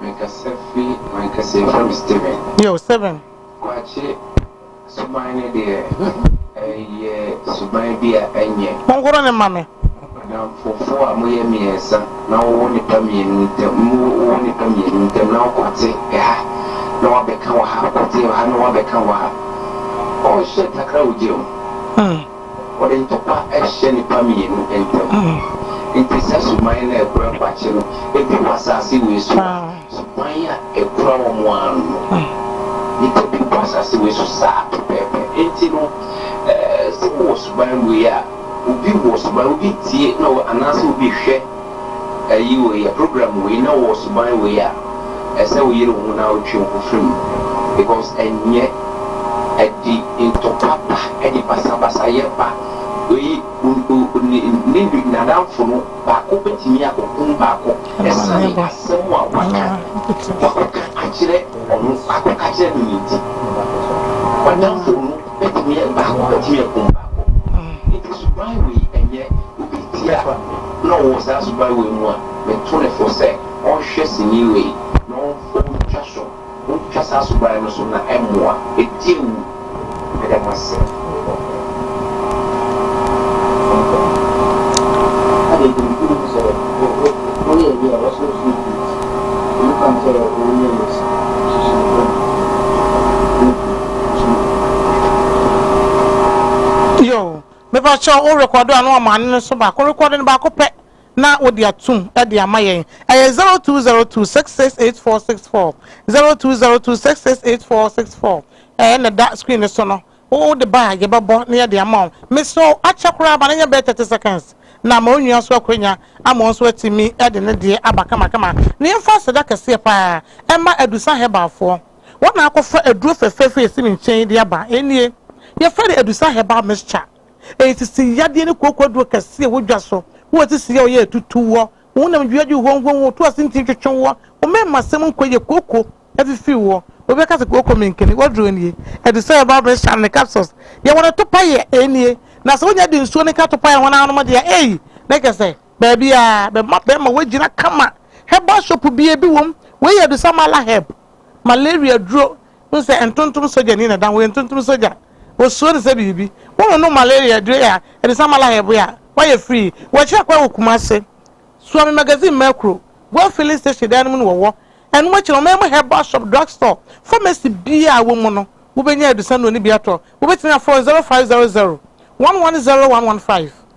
Mekasa firi m'ankasa yɛfrɛ me Steven. Yo Steven. Kwakye suban no deɛ ɛyɛ suban bi a ɛnyɛ. Monkɔrɔ ne mma me. Adamfofoɔ a moyɛ mmiɛnsa na wowɔ nnipa mmienu ntam mo wowɔ nnipa mmienu ntam na wokɔte ɛha na wabɛka wɔ ha kɔte wɔ ha na wabɛka wɔ ha oh shit takra wo gye o. wɔde ntɔkwa hyɛ nnipa mmienu ntam. Enti saa suban no a ɛkura kwakye no bi wɔ asase wei so a, suban a ɛkura wɔn ara no no. Nnipa bi wɔ asase wei so saa pɛpɛɛpɛ. Enti no, sɛ wowɔ suban wei a, obi wɔ suban, obi tie na anaasɛ obi hwɛ. ayi wei yɛ program wei na wowɔ suban wei a ɛsɛ wo yere wo ho na wo twe wo ho firi mu because ɛnyɛ ɛde ntɔkwa ba ɛde basabasa yɛ ba wei ne nadamfo no baako bɛtumi akɔkum baako ɛsane asɛm a waka wakɔka akyerɛ ɔno wakɔka akyerɛ no no nti wadamfo no Ebetumi aba sɛ wobetumi akum baako. Enti suban wei nyɛ obi ti a na ɔwɔ saa suban wei mu a, metu no fo sɛ ɔnhwɛ sini wei na ontwa so, ontwa saa suban no so na ɛmmoa, edi awu. Meda mo ase. Adɛn nti na obi hu sɛ ɔyɛ ayi a ɔsɔ nsu gu ne ti? Obi ka ho sɛ ɔyɛ Yesu, susuw ho. Yo, mepa kyɛw, wo rekɔdo a na wɔamane no nso baako, rekɔdo no baako pɛ na wode atom de ama yɛn. Ɛyɛ zero two zero two six six eight four six four, zero two zero two six six eight four six four, ɛɛ na ɛda screen no so no, wode ba a yɛbɛbɔ na yɛde ama wo. Mesrɛ wo, akyɛ koraa ma no nyɛ bɛyɛ thirty seconds na ma onua nso akwanya ama ɔno nso atumi de ne deɛ aba kamakama, na yɛmfa aseda kɛseɛ paa mma Adusa Herbal foɔ. Wɔn na akɔfa aduro fɛfɛɛfɛ a esi me nkyɛn yi de aba. Ɛnie, yɛfrɛ no Adusa Herbal Mixture. Ɛyɛ sisi yadeɛ ne kooko aduro kɛse a ɛwɔ dwa so. Wo a sisi yaw yɛ a ɛtutu woɔ, wo honam dua dwo huam huam, wo to ase nti ntwetwe woɔ, wo mmarimasɛm mu nkɔ yie, kooko afifi woɔ, obi bɛka sɛ kooko menkene, w'aduro nie. Adusa Herbal Mixture no ne capsules yɛ wɔn atopaeɛ. Ɛnie, na sɛ wonya de nsuo no ka atopaeɛ a wɔn ara nom deɛ a, ei! Na kyerɛ sɛ Baabi a bɛma bɛɛma wɔagyina kama. Herbal shop bia bi wom. Wei yɛ Adusa Mala Herb. Malaria duro. Wohu sɛ ntontom sogyani na ɛda ho. Ɔyɛ ntontom sogya. Wɔsuro no sɛ biribi. Wononom malaria duro yi a, Adusa Mala Herb yi a, woayɛ free. Wɔakyerɛ kwan wɔ Kumase. Suomi Magazine Mɛkuro. Goil Filling Station dan no mu na wɔwɔ. Ɛno akyi no, ɔmanmu herbal shop, drug store, pharmacy biara a ɛwɔ mu no, wobɛnya Adusa nnuro no bi atɔ. Wobɛtumi afrɛ wɔn 0500 110 115.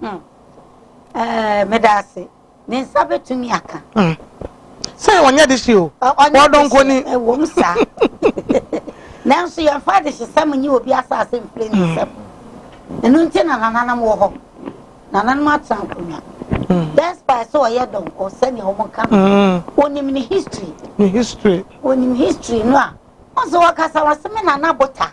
Hmm. Eh, meda ase. Ne nsa betumi aka. Hmm. Sɛ ɔnyɛ de hye o. Ɔdɔ nkoni. Ɛwɔ mu saa. Nanso yɛmfa de hyesɛm nye obi asase mfiri ne nsam. Hmm. Ɛno nti na nananom wɔ hɔ. Nananom atena nkonnwa. Hmm. Despite sɛ ɔyɛ dɔnkɔ sɛnea wɔn ka no. Onim ne history. Ne history. Onim history no a. Ɔse ɔkasa ɔse me nana bota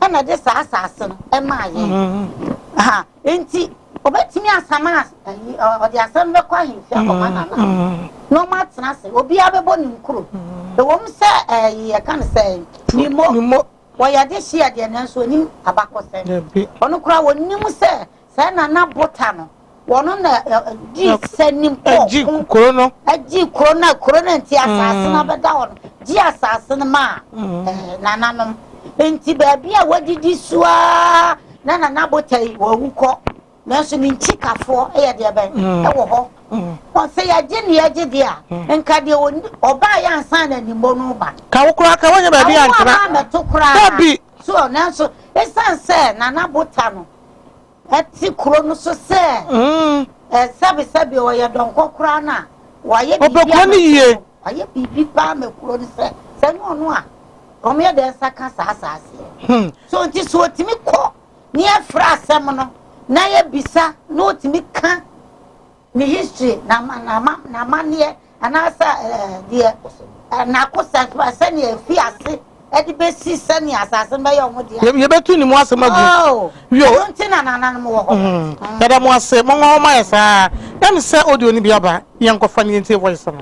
ɛna de saa asase no ɛmaa yɛn mm-hmm. ha nti ɔbɛtumi asama ayi ɔde asɛm bɛkɔ ahemfie akɔma mm-hmm. nana mm-hmm. na ɔmo atena ase obiara bɛbɔ ne nkuro ɛwɔm sɛ ɛyi yɛka no sɛ nimo wɔyɛ de hyia deɛ nanso onim abakɔsɛm ɔno koraa wɔnim sɛ Sɛ na na Bota no, wɔn na di sanim kɔ ko, kuro no, di kuro no, kuro no nti asase no abɛda hɔ no, di asase no maa nananom. Nti baabi a wɔdidi so ara na nana Bota yi wɔawu kɔ, nanso ne nkyikafoɔ yɛ deɛ bɛn wɔ hɔ. Wɔn sɛ yɛgye ne yɛgye deɛ a, nka deɛ ɔbaa yɛ ansa na animbɔ no ba. Ka wo koraa ka wɔnyɛ baabi antena. Awo a mɛto koraa. Dabi. So nanso esan sɛ nana Bota no. te kuro no so sɛ eh, sɛbesɛbe ɔyɛ dɔnkɔ koraa no a wayɛ biribi Ɔbɛkɔ ama ne kuro yie. no. wayɛ biribi paa ma kuro no sɛ sɛ nyɛ ɔno a wɔyɛ dɛn nsa ka saa asaaseɛ Hmm. so nti so ɔtumi kɔ ne yɛfrɛ asɛm no na yɛbisa na ɔtumi ka Ne history, n'amanneɛ anaasɛ deɛ n'akosa sɛnea efi ase ɛde bɛsi sɛnea asase no bɛyɛ wɔn deɛ. Yɛbɛtu ne mu asɛm agu. Oh, ɛno nti na nananom wɔ hɔ. Mm. Yɛda mo ase, mo nwa wɔn ayɛ saa. Ɛm sɛ audio no bi aba, yɛn nkɔfa ne yɛn tie voice no.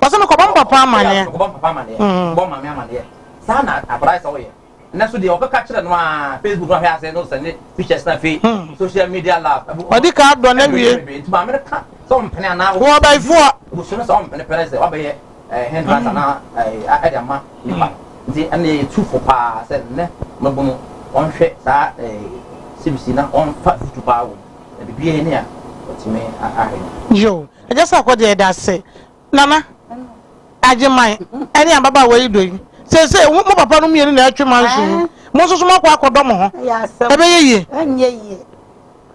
Wɔsɛ me kɔbɔ mpɔpɔ amaneɛ. Ɔdi ka dɔ na wie. Wɔ bɛyifoɔ. Nti ɛna yɛ tufo paa sɛ nnɛ mɛbono wɔnhwɛ saa sibisi na wɔnfa futu paa wɔ mu. Na biribiara nni a wɔtumi ahahe no. Yoo, ɛkyɛ sɛ ɔkɔ deɛ ɛda ase. Nana, Agyeman, ɛne ababaawa yi dɔ yi. Seesei mo papa nom mmienu na ɛretwe mo anso yi, mo nso so moakɔ akɔdɔ mo ho. Ɛyɛ asɛm. Ɛbɛyɛ yie. Ɛnyɛ yie.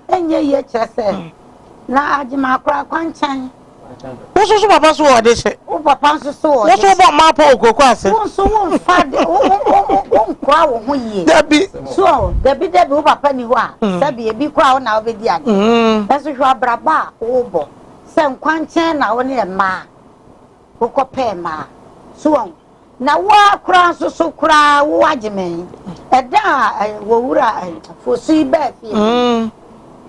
Ɛnyɛ yie kyerɛ sɛ, na Agyeman akora kwankyɛn. Wo nso so papa so wɔ ɔde hyɛ. Wo papa nso so wɔ ɔde hyɛ. Wo nso wobɔ mmaa pɔ wɔ kurokuo ase. Wo nso wo nfa de wo wo wo wo wo nkora wo ho yie. Dabi. So dabi dabi wo papa ni hɔ a mm. sɛbi ebi kora wo na wobɛdi ade. Mm. Nanso hwɛ abrabɔ a wobɔ sɛ nkwankyɛn na wo ne mmaa wokɔpɛɛ mmaa so wɔn. Na wo ara koraa nso so koraa wo agye me. Ɛda a eh, wɔ wura eh, fosu yi bɛɛ fie. Mm.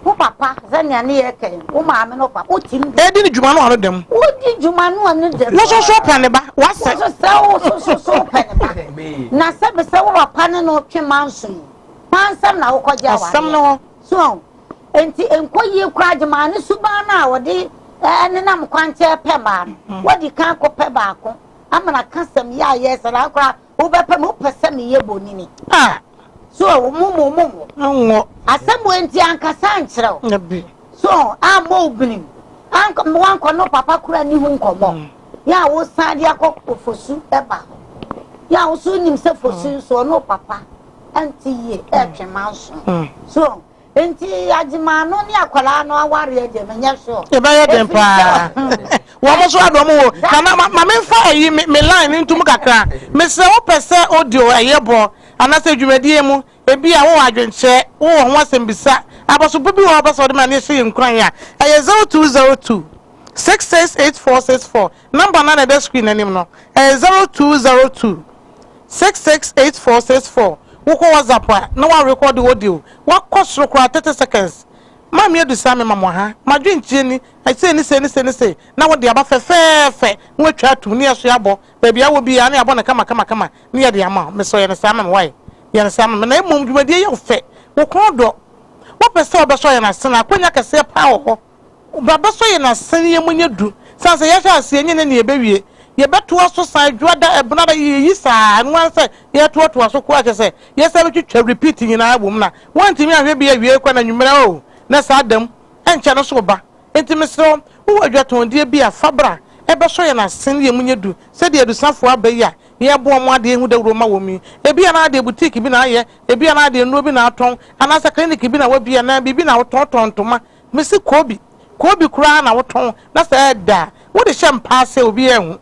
Wo papa sɛ nea ne yɛ kɛn, wo maame no pa, wo tim. Edi ne dwuma no ano dɛm. Wo di dwuma no ano dɛm. Wo soso pɛ ne ba, wasɛ. Wo soso wo soso so pɛ ne ba. Na sɛ bisɛ wo papa ne no twe manso yi, pansɛm na wokɔ gye awadeɛ. Asɛm no hɔ. So, enti nkɔ yie koraa gye maa ne suban no a wɔde ɛnenam kwankyɛn pɛ maa no. Wadi kan kɔ pɛ baako. Amana ka sɛ meyɛ a yɛɛ saa koraa wobɛpɛ me wopɛ sɛ meyɛ bonini a so ɔwo mo mo mo mo nwɔ asɛm wɔ nti ankasa ankyerɛ wo so ammɔ wo binim wankɔ no papa kora ni ho nkɔmmɔ mm. yɛ a wosan de akɔ fosu ɛba hɔ yɛ a woso nim sɛ fosu mm. nso ɔno papa ɛnte yie ɛtwe ma nso mm. so Nti agyemaa no ne akwadaa no awareɛ deɛ menyɛ sure. Ɛbɛyɛ den Ɛfiri sɛ paa. Wɔn mo so adɔm wo. that Nana ma ma memfa ayi me me line no ntom kakra. Mesrɛ wo pɛ sɛ audio ɛyɛ bɔ anaasɛ dwumadie mu ebi a wowɔ adwenkyerɛ wowɔ ho asɛmbisa abɔsobo bi wɔ hɔ a wopɛ sɛ wɔde ma na yɛhyɛ yɛn nkuran a ɛyɛ zero two zero two six six eight four six four. Number no a na ɛda screen no anim no, ɛyɛ zero two zero two, six six eight four six four. Wokɔ WhatsApp a, na wɔarekɔɔde audio, wakɔ soro koraa, thirty seconds. Maame Adu saa mema mo ha, m'adwenkyerɛ ni, sei ne sei ne sei ne sei, na wode aba fɛfɛɛfɛ, na wɔatwa atom, na yɛasoa abɔ, baabi a wɔ biara, na yɛabɔ no kama kama kama, na yɛde ama wo. Mesrɛ wo, yɛ no saa ma me, wai? Yɛ no saa ma me. Na mmom, dwumadie yɛ wo fɛ, wo kɔn dɔ, wopɛ sɛ wobɛsɔ yɛn ase no a, akwannya kɛseɛ paa wɔ hɔ. Braba so yɛ n'asɛnniiɛ mu nyɛ du sane sɛ yɛhyɛ aseɛ nyɛ ne nea ɛbɛwie. Yɛbɛtoa so saa Dwoada, Ɛbenada, yi yi saa, ɛno ara ne sɛ yɛretoatoa so koraa kyerɛ sɛ yɛsan bɛtwitwa repeat nyinaa wom na woantumi anhwɛ bi awiei koraa na anwummerɛ oo na saa da mu ɛnkyɛ no nso reba. Enti mesrɛ wo, wowɔ adwatɔndeɛ bi a, fa bra ɛbɛsɔ yɛn asɛnniiɛ mu nyɛ du sɛdeɛ adusafoɔ aba yi a yɛreboa wɔn adeɛ hu dawuro ma wɔn yi. Ebia na adeɛ boutique bi na ayɛ, ebia na adeɛ nnuro bi na atɔn, anaasɛ clinic bi na wabie anaa biribi na wotɔn, wotɔn ntoma, Mese koobi koobi koraa na wotɔn na sɛ ɛɛdɛ a wode hyɛ mpaa sɛ obi anhu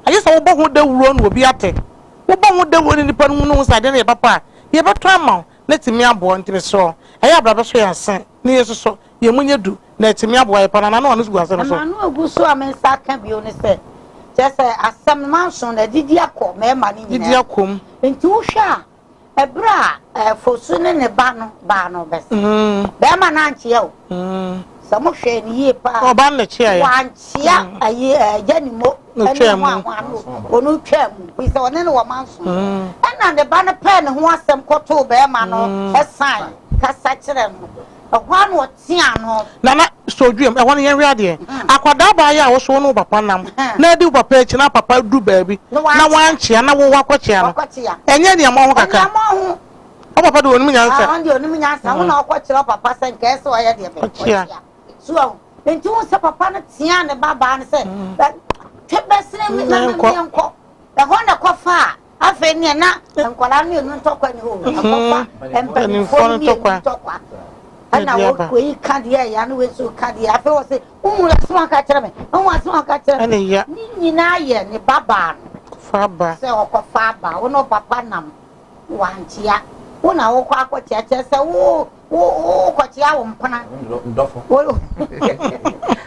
agye sɛ wobɔ ho dawuro na obi ate. Wobɔ ho dawuro na nnipa no hu na ohu sɛ adeɛ no yɛ papa a, yɛbɛtɔ ama wo na atumi aboa wo. Nti mesrɛ wo, ɛyɛ a bra bɛsɔ yɛn ase na yɛnsosɔ, yɛn mu nyɛ du na atumi aboa yɛn paa na n'ano a ɔno so gu asɛm no so. M'ano agu so a me nsa aka bio ne sɛ, kyerɛ sɛ asɛm no manso no agyigye akɔ mmarima no Gyigye nyinaa akɔ mu. mu. Nti wohwɛ a Ɛberɛ a Fosu ne ne ba no baa no bɛ se, Bɛɛma no ankyea o, sɛ mo hwɛɛ no yie paa a, wankyea agya ne mo ne ho a ho ano o no twaa mu, firi sɛ ɔne no wɔ ma nson. Ɛnna ne ba no pɛɛ ne ho asɛm kɔtoo bɛɛma no sane kasa kyerɛɛ no. Ɛhɔ ara na ɔtea ano. Nana, Sodwoem, ɛhɔ no yɛnhwɛ adeɛ. Akwadaa baa yi a wo so wo ne wo papa nam na adi wo papa akyi na papa duru baabi na wankyea na wo woakɔkyea no, ɛnyɛ aniammɔn ho kakra? Wo papa deɛ ɔnim nyansa. Ɔno deɛ ɔnim nyansa. Wo na wokɔkyerɛ wo papa sɛ nka ɛyɛ sɛ ɔyɛ deɛ bɛn? Ɔkyea. So ahu? Enti wohu sɛ papa no teaa ne babaa no sɛ, Twe bɛsene me na me ne yɛnkɔ. Ɛhɔ na ɛkɔfaa. Afei neɛ na nkwadaa mmienu ntɔkwa ni hɔ akɔfa mpanimfoɔ no mmienu ntɔkwa ɛna wɔyi ka deɛ ɛyɛ ne wɔsi ka deɛ afei wɔ se wohu asɛm aka kyerɛ me wohu asɛm aka kyerɛ me ne nyinaa yɛ ne babaa no sɛ ɔkɔfa aba wo ne ɔpapa nam wankyea wo na wokɔ akɔkyea kyerɛ sɛ wo wokɔkyea wo mpena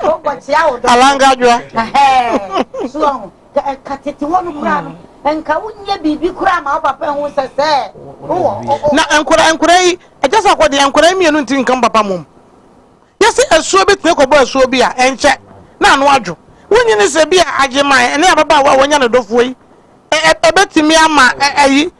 wokɔkyea wo dɔ alangadwoa soɔ ho Sɛ ɛka tete hɔ no mmara no, nka wonyɛ biribi koraa ma wo papa nhu sɛ sɛ wowɔ. Na nkora nkora yi, ɛkyɛ sɛ ɔkɔ deɛ nkora yi mmienu ntiri nka mo papa mom. Yɛse asuo bɛtumi akɔbɔ asuo bi a, ɛnkyɛ na ano adwo. Wonyi ne sɛ bi a agyeman ne ababaawa a wanya ne dɔfoɔ yi, ɛbɛtumi ama ayi.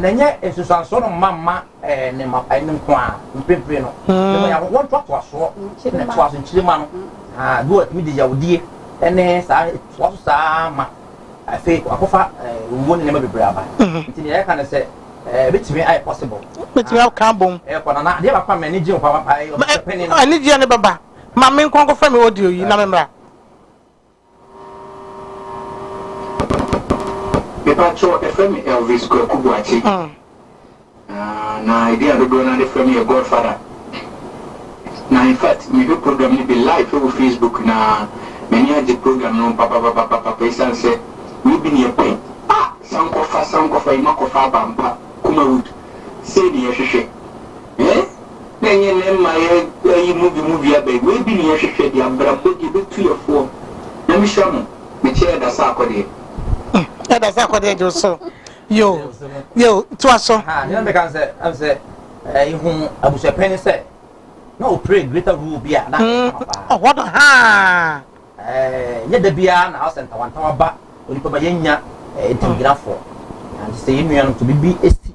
Na ɛnyɛ nsunsuansoɔ no mma mma ne mma ɛne nko ara mprempren no ne mo yɛn wɔn toatoasoɔ ne toaso nkyirima no bi wɔ ɛtumi de yawudie ɛne saa toa so saa ma afei akɔfa owuo ne nneɛma bebree aba nti ne yɛka ne sɛ ɛbɛtumi ayɛ possible bɛtumi aka bom ɛkɔ nana adeɛ baako a m'ani gye ho paa paa ɛyɛ ɔsɛpɛne no ɛne gyeɛ ne bɛba ma me nkɔnkɔfa me audio yi na me mmra Mepakyɛw, ɛfrɛ me Elvis Kwaku Boakye. Na edin a dodoɔ no ara de frɛ me yɛ Godfather. Na in fact, mehwɛ program no bi live wɔ Facebook na m'ani agye program no ho papapapapapa esiane sɛ wɔyɛ bi nea ɛpɛ. Ah! Sankɔfa, Sankɔfa, Imakɔfa, Abampa, Kumawood, sei na yɛhwehwɛ. Hɛn na nye Ne mma yɛ ayi movie mu dua bɛn? Wei bi na yɛhwehwɛ de abrabɔ deɛ ɛbɛtu yɛ foɔ. Nyame hyira mo. Mekyɛ ɛda sɛ akɔdeɛ. Mm, ɛda sɛ akɔdeɛ gye so. Yo, yo, toa so. Ha, nea meka no sɛ, ɛm sɛ, eh, ihu abusuapɛn ne sɛ, na ɔpere greater rule bi a na ɛyɛ mm, kama paa. Ɔhɔ no, ha. Eh, nyɛ da biara na asɛ ntawantawa ba onipa ma yɛnya eh, ntamgyinafoɔ. Nti sɛ yɛn nuanom to biribi si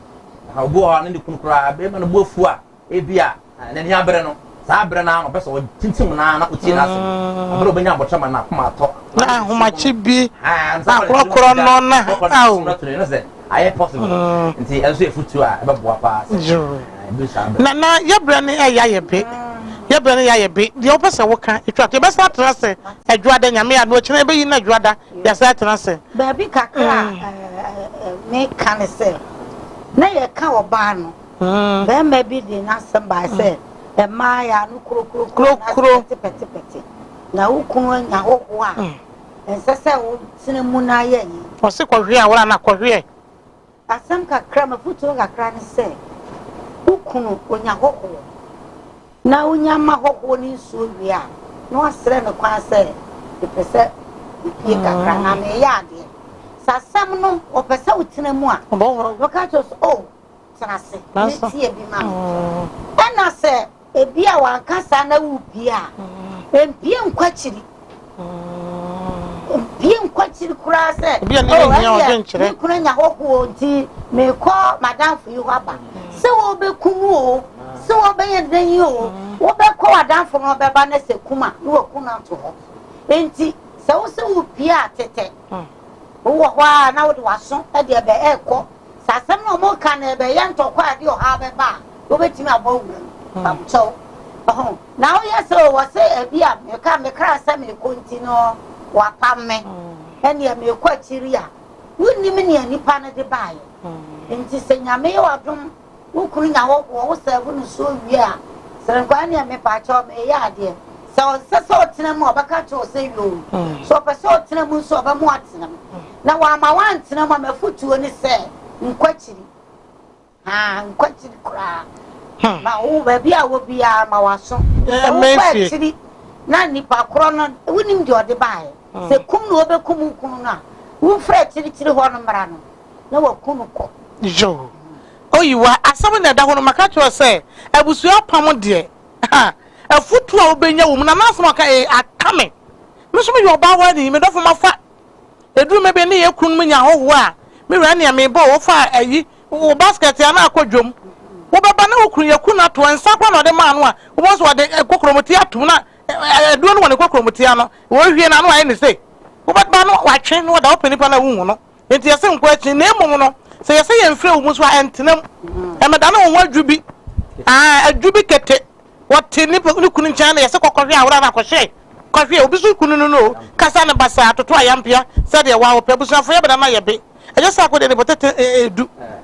Na obi wɔ hɔ a, ne ne kunu koraa, bere ma ne bo afu a, ebia n'ani abere no, saa bere no ara na ɔpɛ sɛ ɔtintim no ara na otie n'asɛm. Mm. Bere a obenya abotare ma n'akoma atɔ, na ahomakye bi akorɔkorɔ no na ao. Na na yɛbrɛ no ɛyɛ ayɛ be yɛbrɛ no yɛ ayɛ be deɛ wopɛ sɛ woka ɛtwa to yɛbɛsan atena sɛ adwoada nyame a na ɔkyena yɛbɛyi no adwoada Yɛsan tena ase. Baabi kakra a meka ne sɛ, na yɛka ɔbaa no, barima bi de n'asɛm bae sɛ, Mmaa yɛ ano kurokurokuro anaasɛ pɛtepɛtepɛte, na wo kunu anya hɔhoɔ a, ɛnsɛ sɛ wotena mu na ayɛ ayi. Ɔse kɔhweɛ a, wora na kɔhweɛ. Asɛm kakra, m'afotuo kakra ne sɛ, wo kunu ɔnya hɔhoɔ na wonya ma hɔhoɔ no nsuo wie a, na wasrɛ me kwan sɛ mepɛ sɛ mepie kakra na meyɛ adeɛ. Sɛ asɛm no ɔpɛ sɛ wotena mu a, na ɔka kyerɛ wo sɛ, oh, tena ase, metie bi ma me. Ɛna sɛ. Ebia wanka saa na wupue a, mpue nkɔ akyiri. Mpue nkɔ akyiri koraa sɛ, Ebia ne yɛ hia ɔdwen kyerɛ. me kunu anya hɔhoɔ nti mekɔ m'adamfo yi hɔ aba. Sɛ wɔbɛku no o, sɛ wɔbɛyɛ dɛn yi o, wobɛkɔ w'adamfo no hɔ bɛba na sɛ kum a, na wɔaku no ato hɔ. Enti sɛ wo sɛ wupue a, tetɛ. Wowɔ hɔ ara na wode w'aso de ɛbɛ ɛrekɔ Sɛ asɛm no a wɔka no rebɛyɛ ntɔkwaw a ɛde ɔhaw bɛba a, wobetumi abɔ wuram. Fa wo kyɛw ho na woyɛ sɛ wɔse ebia meka me kra sɛ merekɔ nti no wɔapam me, ɛnneɛ merekɔ akyiri a. Wunnim nea nipa no de baeɛ. Enti sɛ Nyame yɛ w'adom Wo kunu nya hɔ boɔ, wo sɛɛvo no nsuo wie a, sere nkɔ ɛneɛ mepakyɛw meeyɛ adeɛ. Sɛ ɔnsɛ sɛ ɔtena mu a ɔbɛka akyerɛ wo sɛ yoo. Sɛ ɔpɛ sɛ ɔtena mu nso a ɔbɛma watena mu. Na wamma wantena mu a m'afotuo ne sɛ nkɔ akyiri. Haa nkɔ akyiri koraa. Ma wo baabi a wɔ biara ma w'aso. Sɛ wokɔ akyiri na nipa korɔ no wonim deɛ ɔde baeɛ. Sɛ kum na ɔbɛkum wo kunu no a, womfiri akyirikyiri hɔ no mmra no. na wɔaku no kɔ. Yoh. Oyiwa, asɛm na ɛda hɔ no, maka akyerɛ wo sɛ, abusua apam deɛ, ha, afotu a wobɛnya wɔ mu, na n'asɛm a ɔka ee, aka me. Me nso meyɛ ɔbaa hɔ ara ni, me dɔfo mafa, ɛduru mmɛ bi, ne yɛn kununom nya ahɔhoɔ a, me wura nea mebɔ, wofa ayi, wo basket a na akɔ dwam, wobɛba na wo kunu, yɛaku no ato hɔ, nsa koraa na ɔde maa no a, wobɛhu sɛ ɔde kokromoti atom na aduro no wɔ ne kokromoti ano, ɔrehwie no, ano ayɛ no sei, wobɛba no, watwe, na wada wo pɛ nipa no a wonhu no. Enti yɛse nkɔ akyi, na mmom no, sɛ yɛse yɛmfrɛ wo mu nso a, ɛntena mu. Ɛmmɛdane wo ho adwu bi, aa, adwu bi kete. Wɔte ne ne kunu nkyɛn na yɛse kɔkɔhwɛ a, wora na kɔhwɛ. Kɔhwɛ, obi so kunu no no o, kasa ne basaa, toto ayampia, sɛdeɛ wo ara wopɛ. Abusuafoyɛ bɛdane ayɛ be. Ɛnyɛ sɛ akɔdeɛ ne botete edu.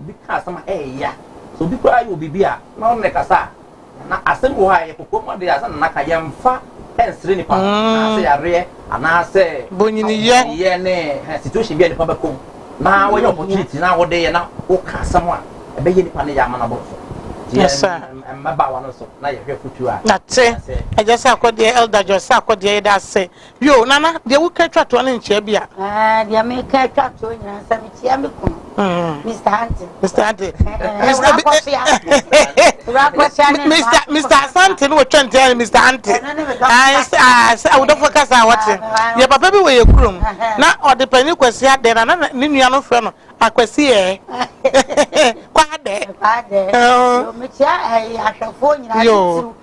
Obi ka asɛm a ɛyɛ ya, sɛ obi koraa yɛ wo biribi a, na ɔno na ɛkasa a, anaa asɛm bi wɔ hɔ a ɛyɛ kokoam ade a ɛsɛ sɛ Nana ka, yɛmfa nsere nnipa ho, anaasɛ yareɛ, anaasɛ bonyiniyɛ ne ɛhɛn situation bi a nnipa bɛkɔ mu, na woanya opportunity na wode yɛ na woka asɛm a ɛbɛyɛ nnipa no yɛ ama no abɔ no so. Nti yɛn mmabaawa no nso, na yɛhwɛ afotuo a ɛyɛ sɛ yɛbɛyɛ. Ɛgya Sarkodie, Elder George Sarkodie, yɛda ase Yoo, Nana, deɛ woka atwa toɔ no nkyerɛ bi a. Aa, deɛ meka atwa toɔ nyinaa sɛ mekyia me kunu, mm. Mr. Ante. Mr. Ante. Mr. Akɔsia. Akɔsia ne Mr. Mr. Asante ne wɔtwa ntia ne Mr. Ante. Aa, sɛ awudɔfo kasa a wɔte. Yɛ papa bi wɔ yɛ kurom, na ɔde panyin kwasi adɛ na na ne nua no frɛ no akwasi yɛ. Kwa adɛ. Kwa adɛ. Mekyia ahwɛfoɔ nyinaa titiriw.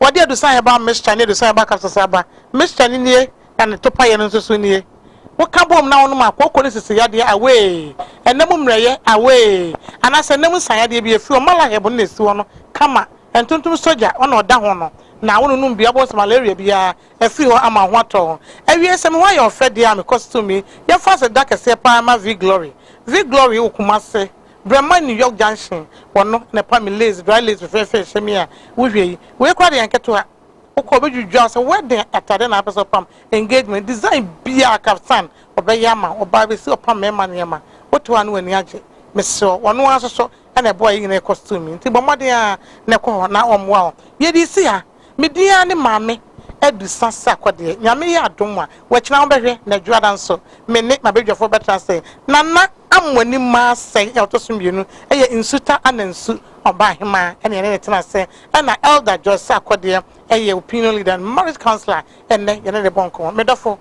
Wɔde adusanhɛba mixture ne adusanhɛba capsules aba. Mixture no nie na ne topaeɛ no nso so nie. Woka bom na wonom a, kooko ne sisi yadeɛ away, ɛnam mmerɛyɛ away, anaasɛ ɛnam nsa yadeɛ bi ɛfiri hɔ. Malahib no na ɛsi hɔ no kama, ɛntontom sogya ɔna ɔda ho no na wononom bi a wobɛhu sɛ malaria biara afiri hɔ ama wo ho atɔ wo. Awiei sɛ me ho ayɛ ɔfɛ deɛ a mekɔ Sumi, yɛmfa aseda kɛseɛ paa mma Viglory. Viglory wɔ Kumasi. Brɛ ma New York Junction wɔ no na ɛpa me lace, dry lace fɛfɛɛfɛ a ɛhyɛ me a wohwɛ yi. Wei koraa deɛ nketewa. Wokɔ a ɔbɛdwidwa wo sɛ wedding atade na wopɛ sɛ wopam, engagement, design biara, kaftan, ɔbɛyɛ ama wo. Ɔbaa bɛsi ɔpam mmarima nneɛma. Wote hɔ a na w'ani agye. Mesrɛ wo, ɔno ara nso so na ɛboa yɛn nyinaa yɛ costume yi. Nti bɔ mmɔden ara na kɔ hɔ na ɔmmoa wo. Yɛde resi ha. Me din ara ne Maame Adu Saseakɔ deɛ, Nyame yɛ adom a, wakyina wobɛhwɛ, na Adwoada nso, me ne m'abadwafoɔ bɛtra ase. Nana Amoanim Maasɛe a ɔtɔ so mmienu yɛ Nsuta Anansu Ɔbaahemaa na yɛne no tena ase, ɛna Elder Joyce Akɔ deɛ yɛ Opinion Leader and Marriage Counsellor, ɛnnɛ yɛne no rebɔ nkɔmmɔ. Me dɔfo.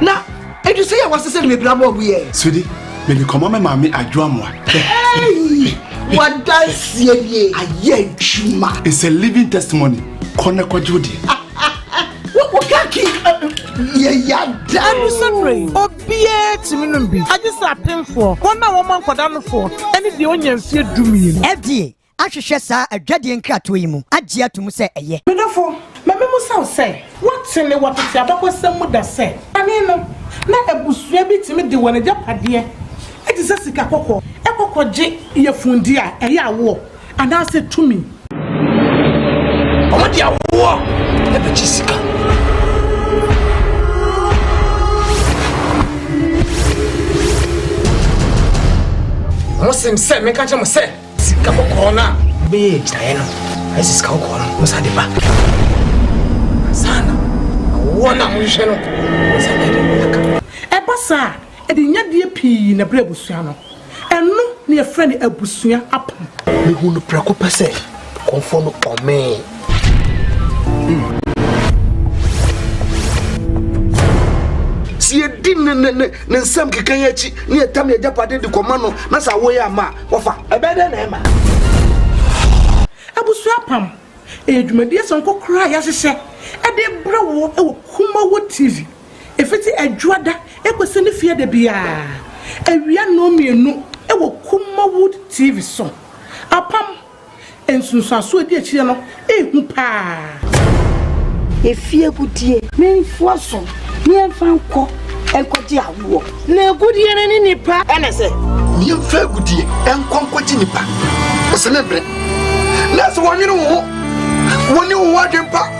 Na edu sɛ yɛ wɔ sese no me bra bɔ wiɛ. Sudi, me me kɔmɔ me maame adwoa mo a. Hey! Wadansie nie ayɛ adwuma. It's a living testimony. Kɔ na kɔgye wo deɛ. ɛno sɛ berɛ yi obiara tumi nom bi agye sɛ apemfoɔ wɔn a wɔma nkɔda nofoɔ ɛne deɛ ɔnya mfeɛ dumienu ɛdeɛ ahwehwɛ saa adwadie nkratoɔ yi mu agye atom sɛ ɛyɛ. Me dɔfo, ma memmisa wo sɛ, woate ne wɔ tete abakɔsɛm mu da sɛ, kane no, na abusua bi tumi de wɔn agyapadeɛ a ɛte sɛ sika kɔkɔɔ kɔ kɔgye yafunu-deɛ a ɛyɛ awoɔ anaasɛ tumi? Wɔde awoɔ bɛgye sika. Mosim sɛ menka nkyerɛ mo sɛ. Sika kɔkɔɔ no a wobɛyɛ agyinaeɛ no, ayɛ sɛ sika kɔkɔɔ no wɔsa de ba. Saa na awoɔ no a mohwehwɛ no wɔsa de de aka. Ɛba saa a, ɛde nyadeɛ pii na ɛbrɛ abusua no. Ɛno na yɛfrɛ no abusua apam. Mehuu no prɛko pɛ sɛ kɔmfoɔ no kɔmee. Mm. Sɛ yɛdi ne nsɛm keka yɛ akyi ne yɛtam yɛ agyapade de kɔma no na sɛ awoyɛ ama a, Wɔfa, ɛbɛyɛ dɛn na ɛma? Abusua apam yɛ dwumadie sononko koraa a yɛahyehyɛ de brɛ wo wɔ Kumawood TV. Ɛfiti Adwoada kɔsi ne fie da biara awia nnɔn mmienu wɔ Kumawood TV so. Apam. Nsunsuansoɔ a ɛdi akyire no yɛ hu paa. Yɛfie agudeɛ. Ne mfoa so. Ne yɛmfa nkɔ nkɔgye awoɔ. Na agudeɛ no ne nipa. Ɛne sɛ. Ne yɛmfa agudeɛ nkɔ nkɔgye nipa. Ɔsɛ ne brɛ. Na sɛ wɔnwene wo ho. Wɔne wo ho adwempa.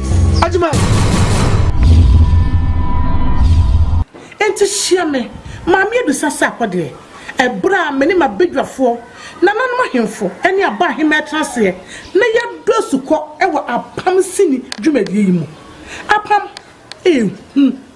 Enti hyia me, Maame Abisa Sarkor deɛ, ɛberɛ a me ne m'abadwafoɔ, nananom ahemfo ne Aba ahemmaa tena aseɛ na yɛadɔ asukɔ wɔ Apam sini dwumadie yi mu. Apam, Ehu.